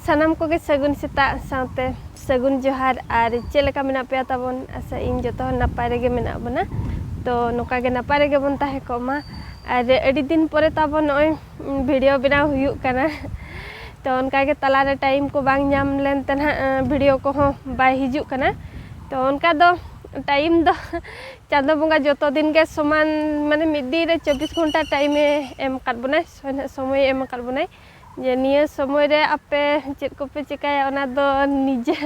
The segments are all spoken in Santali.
ᱥᱟᱱᱟᱢ ᱠᱚᱜᱮ ᱥᱟᱹᱜᱩᱱ ᱥᱮᱛᱟᱜ ᱥᱟᱶᱛᱮ ᱥᱟᱹᱜᱩᱱ ᱡᱚᱦᱟᱨ ᱟᱨ ᱪᱮᱫ ᱞᱮᱠᱟ ᱢᱮᱱᱟᱜ ᱯᱮᱭᱟ ᱛᱟᱵᱚᱱ ᱟᱥᱟ ᱤᱧ ᱡᱚᱛᱚ ᱦᱚᱲ ᱱᱟᱯᱟᱭ ᱨᱮᱜᱮ ᱢᱮᱱᱟᱜ ᱵᱚᱱᱟ ᱛᱚ ᱱᱚᱝᱠᱟ ᱜᱮ ᱱᱟᱯᱟᱭ ᱨᱮᱜᱮ ᱵᱚᱱ ᱛᱟᱦᱮᱸ ᱠᱚᱜ ᱢᱟ ᱟᱨ ᱟᱹᱰᱤ ᱫᱤᱱ ᱯᱚᱨᱮ ᱛᱟᱵᱚᱱ ᱱᱚᱜᱼᱚᱭ ᱵᱷᱤᱰᱤᱭᱳ ᱵᱮᱱᱟᱣ ᱦᱩᱭᱩᱜ ᱠᱟᱱᱟ ᱛᱚ ᱚᱱᱠᱟ ᱜᱮ ᱛᱟᱞᱟᱨᱮ ᱴᱟᱭᱤᱢ ᱠᱚ ᱵᱟᱝ ᱧᱟᱢ ᱞᱮᱱ ᱛᱮ ᱱᱟᱦᱟᱜ ᱵᱷᱤᱰᱤᱭᱳ ᱠᱚᱦᱚᱸ ᱵᱟᱭ ᱦᱤᱡᱩᱜ ᱠᱟᱱᱟ ᱛᱚ ᱚᱱᱠᱟ ᱫᱚ ᱴᱟᱭᱤᱢ ᱫᱚ ᱪᱟᱸᱫᱚ ᱵᱚᱸᱜᱟ ᱡᱚᱛᱚ ᱫᱤᱱ ᱜᱮ ᱥᱚᱢᱟᱱ ᱢᱟᱱᱮ ᱢᱤᱫ ᱫᱤᱱ ᱨᱮ ᱪᱚᱵᱵᱤᱥ ᱜᱷᱚᱱᱴᱟ ᱴᱟᱭᱤᱢᱮ ᱮᱢ ᱟᱠᱟᱫ ᱵᱚᱱᱟᱭ ᱥᱚᱢᱚᱭᱮ ᱮᱢ ᱟᱠᱟᱫ ᱵᱚᱱᱟᱭ ᱡᱮ ᱱᱤᱭᱟᱹ ᱥᱚᱢᱚᱭ ᱨᱮ ᱟᱯᱮ ᱪᱮᱫ ᱠᱚᱯᱮ ᱪᱮᱠᱟᱭᱟ ᱚᱱᱟ ᱫᱚ ᱱᱤᱡᱮ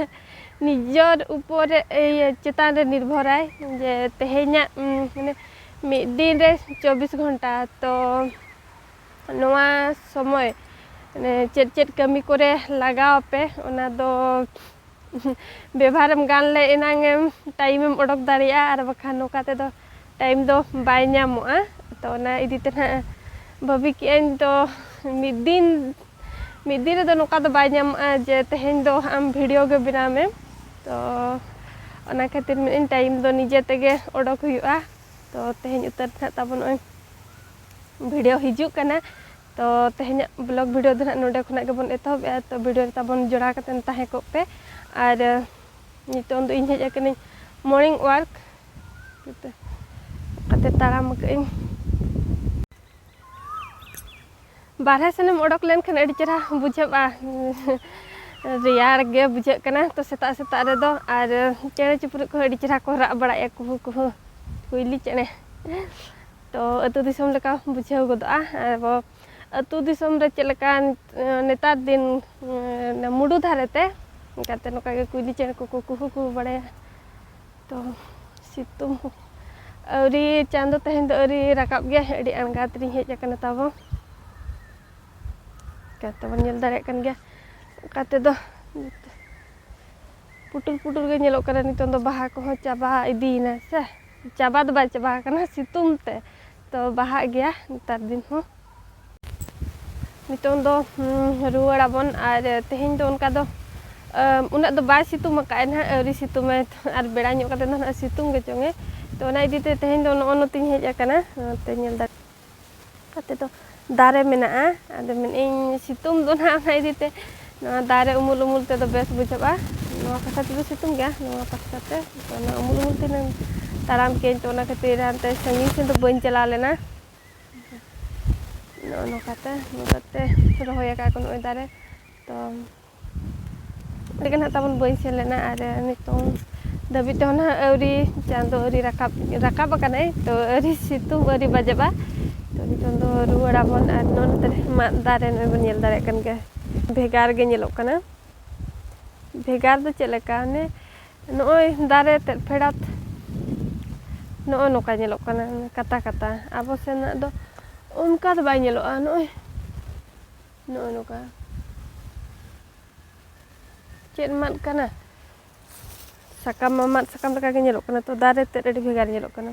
ᱱᱤᱡᱚᱨ ᱩᱯᱚᱨ ᱨᱮ ᱤᱭᱟᱹ ᱪᱮᱛᱟᱱ ᱨᱮ ᱱᱤᱨᱵᱷᱚᱨᱟᱭ ᱡᱮ ᱛᱮᱦᱮᱧᱟᱜ ᱢᱟᱱᱮ ᱢᱤᱫ ᱫᱤᱱ ᱨᱮ ᱪᱚᱵᱵᱤᱥ ᱜᱷᱚᱱᱴᱟ ᱛᱚ ᱱᱚᱣᱟ ᱥᱚᱢᱚᱭ ᱢᱟᱱᱮ ᱪᱮᱫ ᱪᱮᱫ ᱠᱟᱹᱢᱤ ᱠᱚᱨᱮ ᱞᱟᱜᱟᱣ ᱟᱯᱮ ᱚᱱᱟ ᱫᱚ ᱵᱮᱵᱷᱟᱨᱮᱢ ᱜᱟᱱ ᱞᱮ ᱮᱱᱟᱝ ᱮᱢ ᱴᱟᱭᱤᱢᱮᱢ ᱚᱰᱚᱠ ᱫᱟᱲᱮᱭᱟᱜᱼᱟ ᱟᱨ ᱵᱟᱠᱷᱟᱱ ᱱᱚᱝᱠᱟ ᱛᱮᱫᱚ ᱴᱟᱭᱤᱢ ᱫᱚ ᱵᱟᱭ ᱧᱟᱢᱚᱜᱼᱟ ᱛᱚ ᱚᱱᱟ ᱤᱫᱤ ᱛᱮ ᱱᱟᱦᱟᱜ ᱵᱷᱟᱹᱵᱤ ᱠᱮᱜ ᱟᱹᱧ ᱛᱚ ᱢᱤᱫ ᱫᱤᱱ ᱢᱤᱫ ᱫᱤᱱ ᱨᱮᱫᱚ ᱱᱚᱝᱠᱟ ᱫᱚ ᱵᱟᱭ ᱧᱟᱢᱚᱜᱼᱟ ᱡᱮ ᱛᱮᱦᱮᱧ ᱫᱚ ᱟᱢ ᱵᱷᱤᱰᱤᱭᱳ ᱜᱮ ᱵᱮᱱᱟᱣ ᱢᱮ ᱛᱚ ᱚᱱᱟ ᱠᱷᱟᱹᱛᱤᱨ ᱢᱮᱱᱮᱜ ᱟᱹᱧ ᱴᱟᱭᱤᱢ ᱫᱚ ᱱᱤᱡᱮ ᱛᱮᱜᱮ ᱚᱰᱚᱠ ᱦᱩᱭᱩᱜᱼᱟ ᱛᱚ ᱛᱮᱦᱮᱧ ᱩᱛᱟᱹᱨ ᱱᱟᱦᱟᱜ ᱛᱟᱵᱚᱱ ᱱᱚᱜᱼᱚᱭ ᱵᱷᱤᱰᱤᱭᱳ ᱦᱤᱡᱩᱜ ᱠᱟᱱᱟ ᱛᱚ ᱛᱮᱦᱮᱧᱟᱜ ᱵᱞᱚᱜᱽ ᱵᱷᱤᱰᱤᱭᱳ ᱫᱚ ᱱᱟᱦᱟᱜ ᱱᱚᱰᱮ ᱠᱷᱚᱱᱟᱜ ᱜᱮᱵᱚᱱ ᱮᱛᱚᱦᱚᱵᱮᱜᱼᱟ ᱛᱚ ᱵᱷᱤᱰᱤᱭᱳ ᱨᱮ ᱛᱟᱵᱚᱱ ᱡᱚᱲᱟᱣ ᱠᱟᱛᱮᱱ ᱛᱟᱦᱮᱸ ᱠᱚᱜ ᱯᱮ ᱟᱨ ᱱᱤᱛᱚᱝ ᱫᱚ ᱤᱧ ᱦᱮᱡ ᱟᱠᱟᱱᱟᱹᱧ ᱢᱚᱨᱱᱤᱝ ᱳᱣᱟᱨᱠ ᱚᱱᱠᱟᱛᱮ ᱛᱟᱲᱟᱢ ᱟᱠᱟᱫ ᱟᱹᱧ ᱵᱟᱨᱦᱮ ᱥᱮᱱᱮᱢ ᱚᱰᱚᱠ ᱞᱮᱱᱠᱷᱟᱱ ᱟᱹᱰᱤ ᱪᱮᱦᱨᱟ ᱵᱩᱡᱷᱟᱹᱜᱼᱟ ᱨᱮᱭᱟᱲ ᱜᱮ ᱵᱩᱡᱷᱟᱹᱜ ᱠᱟᱱᱟ ᱛᱚ ᱥᱮᱛᱟᱜ ᱥᱮᱛᱟᱜ ᱨᱮᱫᱚ ᱟᱨ ᱪᱮᱬᱮ ᱪᱤᱯᱨᱩᱫ ᱠᱚᱦᱚᱸ ᱟᱹᱰᱤ ᱪᱮᱦᱨᱟ ᱠᱚ ᱨᱟᱜ ᱵᱟᱲᱟᱭᱮᱫᱼᱟ ᱠᱩᱦᱩ ᱠᱩᱦᱩ ᱠᱩᱭᱞᱤ ᱪᱮᱬᱮ ᱛᱚ ᱟᱹᱛᱩ ᱫᱤᱥᱚᱢ ᱞᱮᱠᱟ ᱵᱩᱡᱷᱟᱹᱣ ᱜᱚᱫᱚᱜᱼᱟ ᱟᱵᱚ ᱟᱹᱛᱩ ᱫᱤᱥᱚᱢ ᱨᱮ ᱪᱮᱫ ᱞᱮᱠᱟ ᱱᱮᱛᱟᱨ ᱫᱤᱱ ᱢᱩᱰᱩ ᱫᱷᱟᱨᱮ ᱛᱮ ᱚᱱᱠᱟᱛᱮ ᱱᱚᱝᱠᱟ ᱜᱮ ᱠᱩᱭᱞᱤ ᱪᱮᱬᱮ ᱠᱚᱠᱚ ᱠᱩᱦᱩ ᱠᱩᱦᱩ ᱵᱟᱲᱟᱭᱟ ᱛᱚ ᱥᱤᱛᱩᱝ ᱦᱚᱸ ᱟᱹᱣᱨᱤ ᱪᱟᱸᱫᱚ ᱛᱮᱦᱮᱧ ᱫᱚ ᱟᱹᱣᱨᱤ ᱨᱟᱠᱟᱵ ᱜᱮᱭᱟ ᱟᱹᱰᱤ ᱟᱬᱜᱟᱛ ᱨᱤᱧ ᱦᱮᱡ ᱟᱠᱟᱱᱟ ᱛᱟᱵᱚ ᱪᱤᱠᱟᱹᱛᱮ ᱵᱚᱱ ᱧᱮᱞ ᱫᱟᱲᱮᱭᱟᱜ ᱠᱟᱱ ᱜᱮᱭᱟ ᱚᱱᱠᱟ ᱛᱮᱫᱚ ᱯᱩᱴᱩᱨ ᱯᱩᱴᱩᱨ ᱜᱮ ᱧᱮᱞᱚᱜ ᱠᱟᱱᱟ ᱱᱤᱛᱚᱝ ᱫᱚ ᱵᱟᱦᱟ ᱠᱚᱦᱚᱸ ᱪᱟᱵᱟ ᱤᱫᱤᱭᱮᱱᱟ ᱥᱮ ᱪᱟᱵᱟ ᱫᱚ ᱵᱟᱭ ᱪᱟᱵᱟ ᱟᱠᱟᱱᱟ ᱥᱤᱛᱩᱝ ᱛᱮ ᱛᱚ ᱵᱟᱦᱟᱜ ᱜᱮᱭᱟ ᱱᱮᱛᱟᱨ ᱫᱤᱱ ᱦᱚᱸ ᱱᱤᱛᱚᱝ ᱫᱚ ᱨᱩᱣᱟᱹᱲ ᱟᱵᱚᱱ ᱟᱨ ᱛᱮᱦᱮᱧ ᱫᱚ ᱚᱱᱠᱟ ᱫᱚ ᱩᱱᱟᱹᱜ ᱫᱚ ᱵᱟᱭ ᱥᱤᱛᱩᱝ ᱟᱠᱟᱫᱼᱟ ᱱᱟᱦᱟᱜ ᱟᱹᱣᱨᱤ ᱥᱤᱛᱩᱝ ᱟᱭ ᱟᱨ ᱵᱮᱲᱟ ᱧᱚᱜ ᱠᱟᱛᱮ ᱫᱚ ᱱᱟᱦᱟᱜ ᱥᱤᱛᱩᱝ ᱜᱮ ᱪᱚᱝᱮ ᱛᱚ ᱚᱱᱟ ᱤᱫᱤ ᱛᱮ ᱛᱮᱦᱮᱧ ᱫᱚ ᱱᱚᱜᱼᱚ ᱱᱚᱛᱮᱧ ᱦᱮᱡ ᱟᱠᱟᱱᱟ ᱱᱚᱛᱮ ᱧᱮᱞ ᱫᱟᱲᱮ ᱠᱟᱛᱮ ᱫᱚ ᱫᱟᱨᱮ ᱢᱮᱱᱟᱜᱼᱟ ᱟᱫᱚ ᱢᱮᱱᱮᱫᱼᱟᱹᱧ ᱥᱤᱛᱩᱝ ᱫᱚ ᱱᱟᱦᱟᱜ ᱚᱱᱟ ᱤᱫᱤ ᱛᱮ ᱱᱚᱣᱟ ᱫᱟᱨᱮ ᱩᱢᱩᱞ ᱩᱢᱩᱞ ᱛᱮᱫᱚ ᱵᱮᱥ ᱵᱩᱡᱷᱟᱹᱜᱼᱟ ᱱᱚᱣᱟ ᱯᱟᱥᱴᱟ ᱛᱮᱫᱚ ᱥᱤᱛᱩᱝ ᱜᱮᱭᱟ ᱱᱚᱣᱟ ᱯᱟᱥᱴᱟ ᱛᱮ ᱛᱚ ᱚᱱᱟ ᱩᱢᱩᱞ ᱩᱢᱩᱞ ᱛᱮ ᱛᱟᱲᱟᱢ ᱠᱮᱫᱼᱟᱹᱧ ᱛᱚ ᱚᱱᱟ ᱠᱷᱟᱹᱛᱤᱨ ᱦᱟᱱᱛᱮ ᱥᱟᱺᱜᱤᱧ ᱥᱮᱫ ᱫᱚ ᱵᱟᱹᱧ ᱪᱟᱞᱟᱣ ᱞᱮᱱᱟ ᱱᱚᱜᱼᱚ ᱱᱚᱝᱠᱟᱛᱮ ᱱᱚᱝᱠᱟᱛᱮ ᱨᱚᱦᱚᱭ ᱟᱠᱟᱫ ᱠᱚ ᱱᱚᱜᱼᱚᱭ ᱫᱟᱨᱮ ᱛᱚ ᱟᱹᱰᱤᱜᱟᱱ ᱦᱟᱸᱜ ᱛᱟᱵᱚᱱ ᱵᱟᱹᱭ ᱥᱮᱱ ᱞᱮᱱᱟ ᱟᱨ ᱱᱤᱛᱚᱝ ᱫᱷᱟᱹᱵᱤᱡ ᱛᱮᱦᱚᱸ ᱱᱟᱦᱟᱜ ᱟᱹᱣᱨᱤ ᱪᱟᱸᱫᱚ ᱟᱹᱣᱨᱤ ᱨᱟᱠᱟᱵ ᱨᱟᱠᱟᱵ ᱟᱠᱟᱱᱟᱭ ᱛᱚ ᱟᱹᱣᱨᱤ ᱥᱤᱛᱩᱝ ᱟᱹᱣᱨᱤ ᱵᱟᱡᱟᱜᱼᱟ ᱛᱚ ᱱᱤᱛᱚᱝ ᱫᱚ ᱨᱩᱣᱟᱹᱲ ᱟᱵᱚᱱ ᱟᱨ ᱱᱚᱛᱮ ᱨᱮ ᱢᱟᱫ ᱫᱟᱨᱮ ᱱᱚᱜᱼᱚᱭ ᱵᱚᱱ ᱧᱮᱞ ᱫᱟᱲᱮᱭᱟᱜ ᱠᱟᱱ ᱜᱮᱭᱟ ᱵᱷᱮᱜᱟᱨ ᱜᱮ ᱧᱮᱞᱚᱜ ᱠᱟᱱᱟ ᱵᱷᱮᱜᱟᱨ ᱫᱚ ᱪᱮᱫ ᱞᱮᱠᱟ ᱚᱱᱮ ᱱᱚᱜᱼᱚᱭ ᱫᱟᱨᱮ ᱛᱮᱫ ᱯᱷᱮᱰᱟᱛ ᱱᱚᱜᱼᱚᱭ ᱱᱚᱝᱠᱟ ᱧᱮᱞᱚᱜ ᱠᱟᱱᱟ ᱠᱟᱛᱟ ᱠᱟᱛᱟ ᱟᱵᱚ ᱥᱮᱱᱟᱜ ᱫᱚ ᱚᱱᱠᱟ ᱫᱚ ᱵᱟᱭ ᱧᱮᱞᱚᱜᱼᱟ ᱱᱚᱜᱼᱚᱭ ᱱᱚᱜᱼᱚᱭ ᱱᱚᱝᱠᱟ ᱪᱮᱫ ᱢᱟᱫ ᱠᱟᱱᱟ ᱥᱟᱠᱟᱢ ᱢᱟ ᱢᱟᱫ ᱥᱟᱠᱟᱢ ᱞᱮᱠᱟᱜᱮ ᱧᱮᱞᱚᱜ ᱠᱟᱱᱟ ᱛᱚ ᱫᱟᱨᱮ ᱛᱮᱫ ᱟᱹᱰᱤ ᱵᱷᱮᱜᱟᱨ ᱧᱮᱞᱚᱜ ᱠᱟᱱᱟ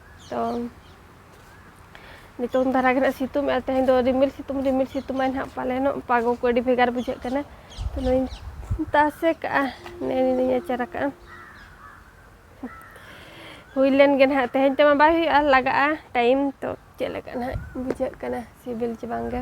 ᱛᱚ ᱱᱤᱛᱚᱝ ᱫᱷᱟᱨᱟ ᱜᱮ ᱱᱟᱜ ᱥᱤᱛᱩᱝ ᱮᱫᱟ ᱛᱮᱦᱮᱧ ᱫᱚ ᱨᱤᱢᱤᱞ ᱥᱤᱛᱩᱝ ᱨᱤᱢᱤᱞ ᱥᱤᱛᱩᱝᱟᱭ ᱱᱟᱜ ᱯᱟᱞᱮᱱᱚᱜ ᱯᱟᱜᱚ ᱠᱚ ᱟᱹᱰᱤ ᱵᱷᱮᱜᱟᱨ ᱵᱩᱡᱷᱟᱹᱜ ᱠᱟᱱᱟ ᱛᱚ ᱱᱚᱣᱟᱧ ᱛᱟᱥᱮ ᱠᱟᱜᱼᱟ ᱱᱤᱭᱟᱹᱧ ᱟᱪᱟᱨ ᱟᱠᱟᱜᱼᱟ ᱦᱩᱭ ᱞᱮᱱ ᱜᱮ ᱱᱟᱜ ᱛᱮᱦᱮᱧ ᱛᱮᱢᱟ ᱵᱟᱭ ᱦᱩᱭᱩᱜᱼᱟ ᱞᱟᱜᱟᱜᱼᱟ ᱴᱟᱭᱤᱢ ᱛᱚ ᱪᱮᱫ ᱞᱮᱠᱟ ᱱᱟᱜ ᱵᱩᱡᱷᱟᱹᱜ ᱠᱟᱱᱟ ᱥᱤᱵᱤᱞ ᱪᱮ ᱵᱟᱝᱜᱮ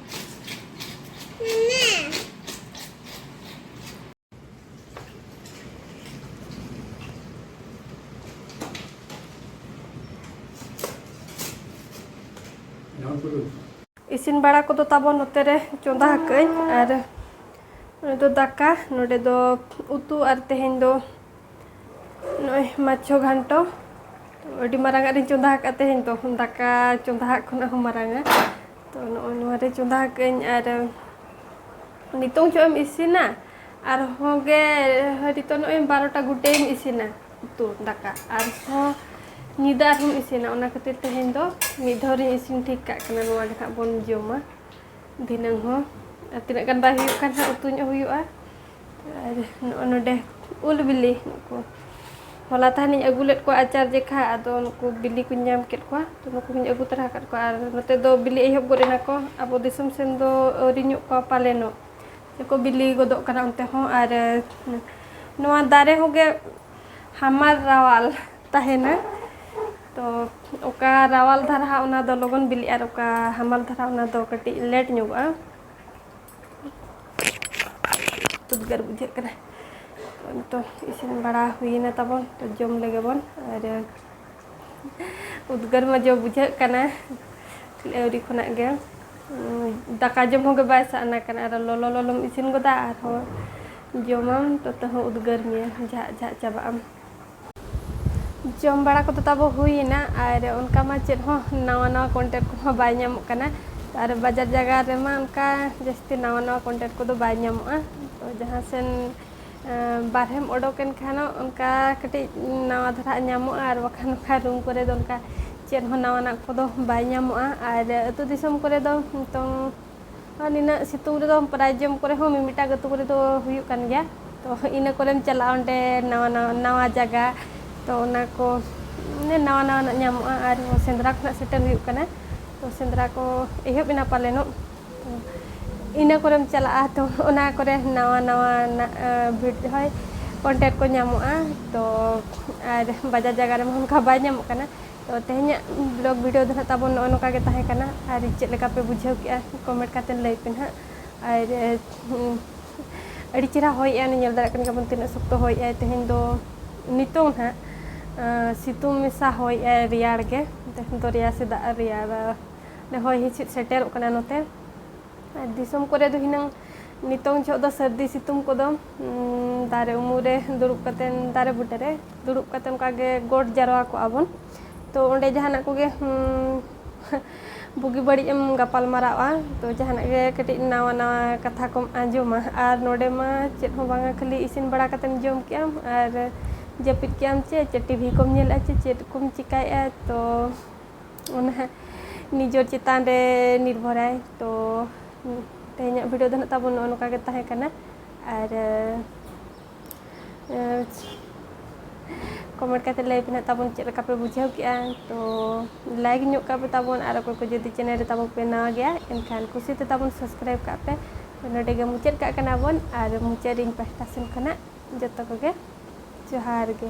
ᱤᱥᱤᱱ ᱵᱟᱲᱟ ᱠᱚᱫᱚ ᱛᱟᱵᱚᱱ ᱱᱚᱛᱮ ᱨᱮ ᱪᱚᱸᱫᱟ ᱟᱠᱟᱫᱟᱹᱧ ᱟᱨ ᱱᱚᱰᱮ ᱫᱚ ᱫᱟᱠᱟ ᱱᱚᱰᱮ ᱫᱚ ᱩᱛᱩ ᱟᱨ ᱛᱮᱦᱮᱧ ᱫᱚ ᱱᱚᱜᱼᱚᱭ ᱢᱟᱪᱷᱚ ᱜᱷᱟᱱᱴᱚ ᱟᱹᱰᱤ ᱢᱟᱨᱟᱝᱟᱜ ᱨᱤᱧ ᱪᱚᱸᱫᱟ ᱟᱠᱟᱫ ᱛᱮᱦᱮᱧ ᱫᱚ ᱫᱟᱠᱟ ᱪᱚᱸᱫᱟ ᱟᱜ ᱠᱷᱚᱱᱟᱜ ᱦᱚᱸ ᱢᱟᱨᱟᱝᱟ ᱛᱚ ᱱᱚᱜᱼᱚᱭ ᱱᱚᱣᱟ ᱨᱮ ᱪᱚᱸᱫᱟ ᱠᱟᱜ ᱟᱹᱧ ᱟᱨ ᱱᱤᱛᱚᱝ ᱪᱚᱜ ᱮᱢ ᱤᱥᱤᱱᱟ ᱟᱨᱦᱚᱸ ᱜᱮ ᱦᱚᱭᱛᱚ ᱱᱚᱜᱼᱚᱭ ᱵᱟᱨᱚᱴᱟ ᱜᱩᱴᱮᱢ ᱤᱥᱤᱱᱟ ᱩᱛᱩ ᱫᱟᱠᱟ ᱟᱨᱦᱚᱸ ᱧᱤᱫᱟᱹ ᱟᱨᱦᱚᱸᱢ ᱤᱥᱤᱱᱟ ᱚᱱᱟ ᱠᱷᱟᱹᱛᱤᱨ ᱛᱮᱦᱮᱧ ᱫᱚ ᱢᱤᱫ ᱫᱷᱟᱣ ᱨᱤᱧ ᱤᱥᱤᱱ ᱴᱷᱤᱠ ᱠᱟᱜ ᱠᱟᱱᱟ ᱱᱚᱣᱟ ᱜᱮ ᱦᱟᱸᱜ ᱵᱚᱱ ᱡᱚᱢᱟ ᱫᱷᱤᱱᱟᱹᱝ ᱦᱚᱸ ᱛᱤᱱᱟᱹᱜ ᱜᱟᱱ ᱵᱟᱭ ᱦᱩᱭᱩᱜ ᱠᱟᱱ ᱦᱟᱸᱜ ᱩᱛᱩ ᱧᱚᱜ ᱦᱩᱭᱩᱜᱼᱟ ᱟᱨ ᱱᱚᱜᱼᱚ ᱱᱚᱰᱮ ᱩᱞ ᱵᱤᱞᱤ ᱱᱩᱠᱩ ᱦᱚᱞᱟ ᱛᱟᱦᱮᱱᱤᱧ ᱟᱹᱜᱩ ᱞᱮᱫ ᱠᱚᱣᱟ ᱟᱪᱟᱨ ᱡᱮᱠᱷᱟ ᱟᱫᱚ ᱱᱩᱠᱩ ᱵᱤᱞᱤ ᱠᱚᱧ ᱧᱟᱢ ᱠᱮᱫ ᱠᱚᱣᱟ ᱛᱚ ᱱᱩᱠᱩ ᱦᱚᱧ ᱟᱹᱜᱩ ᱛᱚᱨᱟ ᱟᱠᱟᱫ ᱠᱚᱣᱟ ᱟᱨ ᱱᱚᱛᱮ ᱫᱚ ᱵᱤᱞᱤ ᱮᱦᱚᱵ ᱜᱚᱫ ᱮᱱᱟ ᱠᱚ ᱟᱵᱚ ᱫᱤᱥᱚᱢ ᱥᱮᱱ ᱫᱚ ᱟᱹᱣᱨᱤ ᱧᱚᱜ ᱠᱚᱣᱟ ᱯᱟᱞᱮᱱᱚᱜ ᱠᱚ ᱵᱤᱞᱤ ᱜᱚᱫᱚᱜ ᱠᱟᱱᱟ ᱚᱱᱛᱮ ᱦᱚᱸ ᱟᱨ ᱱᱚᱣᱟ ᱫᱟᱨᱮ ᱦᱚᱸᱜᱮ ᱦᱟᱢᱟᱞ ᱨᱟᱣᱟᱞ ᱛᱟᱦᱮᱱᱟ ᱛᱚ ᱚᱠᱟ ᱨᱟᱣᱟᱞ ᱫᱷᱟᱨᱟ ᱚᱱᱟ ᱫᱚ ᱞᱚᱜᱚᱱ ᱵᱤᱞᱤᱜᱼᱟ ᱟᱨ ᱚᱠᱟ ᱦᱟᱢᱟᱞ ᱫᱷᱟᱨᱟ ᱚᱱᱟ ᱫᱚ ᱠᱟᱹᱴᱤᱡ ᱞᱮᱴ ᱧᱚᱜᱚᱜᱼᱟ ᱩᱫᱽᱜᱟᱹᱨ ᱵᱩᱡᱷᱟᱹᱜ ᱠᱟᱱᱟ ᱱᱤᱛᱚᱜ ᱤᱥᱤᱱ ᱵᱟᱲᱟ ᱦᱩᱭᱱᱟ ᱛᱟᱵᱚᱱ ᱛᱚ ᱡᱚᱢ ᱞᱮᱜᱮ ᱵᱚᱱ ᱟᱨ ᱩᱫᱽᱜᱟᱹᱨ ᱢᱟ ᱡᱚᱢ ᱵᱩᱡᱷᱟᱹᱜ ᱠᱟᱱᱟ ᱟᱹᱣᱨᱤ ᱠᱷᱚᱱᱟᱜ ᱜᱮ ᱫᱟᱠᱟ ᱡᱚᱢ ᱦᱚᱸ ᱜᱮ ᱵᱟᱭ ᱥᱟᱱᱟ ᱠᱟᱱᱟ ᱟᱨ ᱞᱚᱞᱚ ᱞᱚᱞᱚᱢ ᱤᱥᱤᱱ ᱜᱚᱫᱟ ᱟᱨᱦᱚᱸ ᱡᱚᱢᱟᱢ ᱛᱚ ᱛᱟᱹᱦᱩ ᱩᱫᱽᱜᱟᱹᱨ ᱢᱮᱭᱟ ᱡᱷᱟᱜ ᱡᱷᱟᱜ ᱪᱟᱵᱟᱜ ᱟᱢ ᱡᱚᱢ ᱵᱟᱲᱟ ᱠᱚᱫᱚ ᱛᱟᱵᱚ ᱦᱩᱭᱮᱱᱟ ᱟᱨ ᱚᱱᱠᱟ ᱢᱟ ᱪᱮᱫ ᱦᱚᱸ ᱱᱟᱣᱟ ᱱᱟᱣᱟ ᱠᱚᱱᱴᱮᱱᱴ ᱠᱚᱦᱚᱸ ᱵᱟᱭ ᱧᱟᱢᱚᱜ ᱠᱟᱱᱟ ᱟᱨ ᱵᱟᱡᱟᱨ ᱡᱟᱭᱜᱟ ᱨᱮᱢᱟ ᱚᱱᱠᱟ ᱡᱟᱹᱥᱛᱤ ᱱᱟᱣᱟ ᱱᱟᱣᱟ ᱠᱚᱱᱴᱮᱱᱴ ᱠᱚᱫᱚ ᱵᱟᱭ ᱧᱟᱢᱚᱜᱼᱟ ᱛᱚ ᱡᱟᱦᱟᱸ ᱥᱮᱱ ᱵᱟᱨᱦᱮᱢ ᱚᱰᱚᱠᱮᱱ ᱠᱷᱟᱱ ᱚᱱᱠᱟ ᱠᱟᱹᱴᱤᱡ ᱱᱟᱣᱟ ᱫᱷᱟᱨᱟ ᱧᱟᱢᱚᱜᱼᱟ ᱟᱨ ᱵᱟᱠᱷᱟᱱ ᱚᱱᱠᱟ ᱨᱩᱢ ᱠᱚᱨᱮ ᱫᱚ ᱚᱱᱠᱟ ᱪᱮᱫ ᱦᱚᱸ ᱱᱟᱣᱟᱱᱟᱜ ᱠᱚᱫᱚ ᱵᱟᱭ ᱧᱟᱢᱚᱜᱼᱟ ᱟᱨ ᱟᱛᱳ ᱫᱤᱥᱚᱢ ᱠᱚᱨᱮ ᱫᱚ ᱱᱤᱛᱚᱝ ᱱᱤᱱᱟᱹᱜ ᱥᱤᱛᱩᱝ ᱨᱮᱫᱚ ᱯᱨᱟᱭ ᱡᱚᱢ ᱠᱚᱨᱮ ᱦᱚᱸ ᱢᱤᱢᱤᱫᱴᱟᱝ ᱟᱹᱛᱩ ᱠᱚᱨᱮ ᱫᱚ ᱦᱩᱭᱩᱜ ᱠᱟᱱ ᱜᱮᱭᱟ ᱛᱚ ᱤᱱᱟᱹ ᱠᱚᱨᱮᱢ ᱪᱟᱞᱟᱜᱼᱟ ᱚᱸᱰᱮ ᱱᱟᱣᱟ ᱱᱟᱣᱟ ᱱᱟᱣᱟ ᱡᱟᱭᱜᱟ ᱛᱚ ᱚᱱᱟ ᱠᱚ ᱢᱟᱱᱮ ᱱᱟᱣᱟ ᱱᱟᱣᱟᱱᱟᱜ ᱧᱟᱢᱚᱜᱼᱟ ᱟᱨ ᱥᱮᱸᱫᱽᱨᱟ ᱠᱷᱚᱱᱟᱜ ᱥᱮᱴᱮᱨ ᱦᱩᱭᱩᱜ ᱠᱟᱱᱟ ᱛᱚ ᱥᱮᱸᱫᱽᱨᱟ ᱠᱚ ᱮᱦᱚᱵ ᱮᱱᱟ ᱯᱟᱞᱮᱱᱚᱜ ᱛᱚ ᱤᱱᱟᱹ ᱠᱚᱨᱮᱢ ᱪᱟᱞᱟᱜᱼᱟ ᱛᱚ ᱚᱱᱟ ᱠᱚᱨᱮ ᱱᱟᱣᱟ ᱱᱟᱣᱟᱱᱟᱜ ᱵᱷᱤᱰ ᱦᱚᱭ ᱠᱚᱱᱴᱮᱱᱴ ᱠᱚ ᱧᱟᱢᱚᱜᱼᱟ ᱛᱚ ᱟᱨ ᱵᱟᱡᱟᱨ ᱡᱟᱭᱜᱟ ᱨᱮᱢᱟ ᱚᱱᱠᱟ ᱵᱟᱭ ᱧᱟᱢᱚᱜ ᱠᱟᱱᱟ ᱛᱚ ᱛᱮᱦᱮᱧᱟᱜ ᱵᱞᱚᱜ ᱵᱷᱤᱰᱤᱭᱳ ᱫᱚ ᱱᱟᱜ ᱛᱟᱵᱚᱱ ᱱᱚᱜᱼᱚ ᱱᱚᱝᱠᱟ ᱜᱮ ᱛᱟᱦᱮᱸ ᱠᱟᱱᱟ ᱟᱨ ᱪᱮᱫ ᱞᱮᱠᱟ ᱯᱮ ᱵᱩᱡᱷᱟᱹᱣ ᱠᱮᱜᱼᱟ ᱠᱚᱢᱮᱱᱴ ᱠᱟᱛᱮ ᱞᱟᱹᱭ ᱯᱮ ᱱᱟᱜ ᱟᱨ ᱟᱹᱰᱤ ᱪᱮᱦᱨᱟ ᱦᱚᱭᱮᱜᱼᱟ ᱧᱮᱞ ᱫᱟᱲᱮᱭᱟᱜ ᱠᱟᱱ ᱜᱮᱭᱟᱵᱚᱱ ᱛᱤᱱᱟᱹᱜ ᱥᱚᱠᱛᱚ ᱦᱚᱭᱮᱜᱼᱟᱭ ᱛᱮᱦᱮᱧ ᱫᱚ ᱱᱤᱛᱚᱝ ᱱᱟᱜ ᱥᱤᱛᱩᱝ ᱢᱮᱥᱟ ᱦᱚᱭᱮᱜᱼᱟᱭ ᱨᱮᱭᱟᱲ ᱜᱮ ᱛᱮᱦᱮᱧ ᱫᱚ ᱨᱮᱭᱟᱲ ᱥᱮ ᱫᱟᱜ ᱨᱮᱭᱟᱲ ᱦᱚᱭ ᱦᱤᱸᱥᱤᱫ ᱥᱮᱴᱮᱨᱚᱜ ᱠᱟᱱᱟ ᱱᱚᱛᱮ ᱟᱨ ᱫᱤᱥᱚᱢ ᱠᱚᱨᱮ ᱫᱚ ᱦᱤᱱᱟᱹᱝ ᱱᱤᱛᱚᱝ ᱡᱚᱦᱚᱜ ᱫᱚ ᱥᱟᱹᱨᱫᱤ ᱥᱤᱛᱩᱝ ᱠᱚᱫᱚ ᱫᱟᱨᱮ ᱩᱢᱩᱞ ᱨᱮ ᱫᱩᱲᱩᱵ ᱠᱟᱛᱮ ᱫᱟᱨᱮ ᱵᱩᱴᱟᱹ ᱨᱮ ᱫᱩᱲᱩᱵ ᱠᱟᱛᱮ ᱚᱱᱠᱟ ᱜᱮ ᱜᱚᱴ ᱡᱟᱨᱣᱟ ᱠᱚᱜᱼᱟ ᱵᱚᱱ ᱛᱚ ᱚᱸᱰᱮ ᱡᱟᱦᱟᱱᱟᱜ ᱠᱚᱜᱮ ᱵᱩᱜᱤ ᱵᱟᱹᱲᱤᱡ ᱮᱢ ᱜᱟᱯᱟᱞ ᱢᱟᱨᱟᱣᱜᱼᱟ ᱛᱚ ᱡᱟᱦᱟᱱᱟᱜ ᱜᱮ ᱠᱟᱹᱴᱤᱡ ᱱᱟᱣᱟ ᱱᱟᱣᱟ ᱠᱟᱛᱷᱟ ᱠᱚᱢ ᱟᱸᱡᱚᱢᱟ ᱟᱨ ᱱᱚᱰᱮ ᱢᱟ ᱪᱮᱫ ᱦᱚᱸ ᱵᱟᱝᱟ ᱠᱷᱟᱹᱞᱤ ᱤᱥᱤᱱ ᱵᱟᱲᱟ ᱠᱟᱛᱮᱢ ᱡᱚᱢ ᱠᱮᱜᱼᱟᱢ ᱟᱨ ᱡᱟᱹᱯᱤᱫ ᱠᱮᱜᱼᱟᱢ ᱪᱮ ᱪᱮᱫ ᱴᱤᱵᱷᱤ ᱠᱚᱢ ᱧᱮᱞᱮᱜᱼᱟ ᱪᱮ ᱪᱮᱫ ᱠᱚᱢ ᱪᱤᱠᱟᱹᱭᱮᱜᱼᱟ ᱛᱚ ᱚᱱᱟ ᱦᱟᱸᱜ ᱱᱤᱡᱮᱨ ᱪᱮᱛᱟᱱ ᱨᱮ ᱱᱤᱨᱵᱷᱚᱨᱟᱭ ᱛᱚ ᱛᱮᱦᱮᱧᱟᱜ ᱵᱷᱤᱰᱤᱭᱳ ᱫᱚ ᱱᱟᱜ ᱛᱟᱵᱚᱱ ᱱᱚᱜᱼᱚ ᱱᱚᱝᱠᱟ ᱜᱮ ᱛᱟᱦᱮᱸ ᱠᱟᱱᱟ ᱟᱨ ᱠᱚᱢᱮᱱᱴ ᱠᱟᱛᱮ ᱞᱟᱹᱭ ᱯᱮ ᱱᱟᱜ ᱛᱟᱵᱚᱱ ᱪᱮᱫ ᱞᱮᱠᱟ ᱯᱮ ᱵᱩᱡᱷᱟᱹᱣ ᱠᱮᱜᱼᱟ ᱛᱚ ᱞᱟᱭᱤᱠ ᱧᱚᱜ ᱠᱟᱜ ᱯᱮ ᱛᱟᱵᱚᱱ ᱟᱨ ᱚᱠᱚᱭ ᱠᱚ ᱡᱩᱫᱤ ᱪᱮᱱᱮᱞ ᱨᱮ ᱛᱟᱵᱚᱱ ᱯᱮ ᱱᱟᱣᱟ ᱜᱮᱭᱟ ᱮᱱᱠᱷᱟᱱ ᱠᱩᱥᱤ ᱛᱮ ᱛᱟᱵᱚᱱ ᱥᱟᱵᱥᱠᱨᱟᱭᱤᱵ ᱠᱟᱜ ᱯᱮ ᱛᱚ ᱱᱚᱰᱮ ᱜᱮ ᱢᱩᱪᱟᱹᱫ ᱠᱟᱜ ᱠᱟᱱᱟ ᱵᱚᱱ ᱟᱨ ᱢᱩᱪᱟᱹᱫ ᱨᱤᱧ ᱯᱟᱦᱴᱟ ᱥᱮᱱ ᱠᱷᱚᱱᱟᱜ ᱡᱚᱛᱚ ᱠᱚᱜᱮ ᱡᱚᱦᱟᱨ ᱜᱮ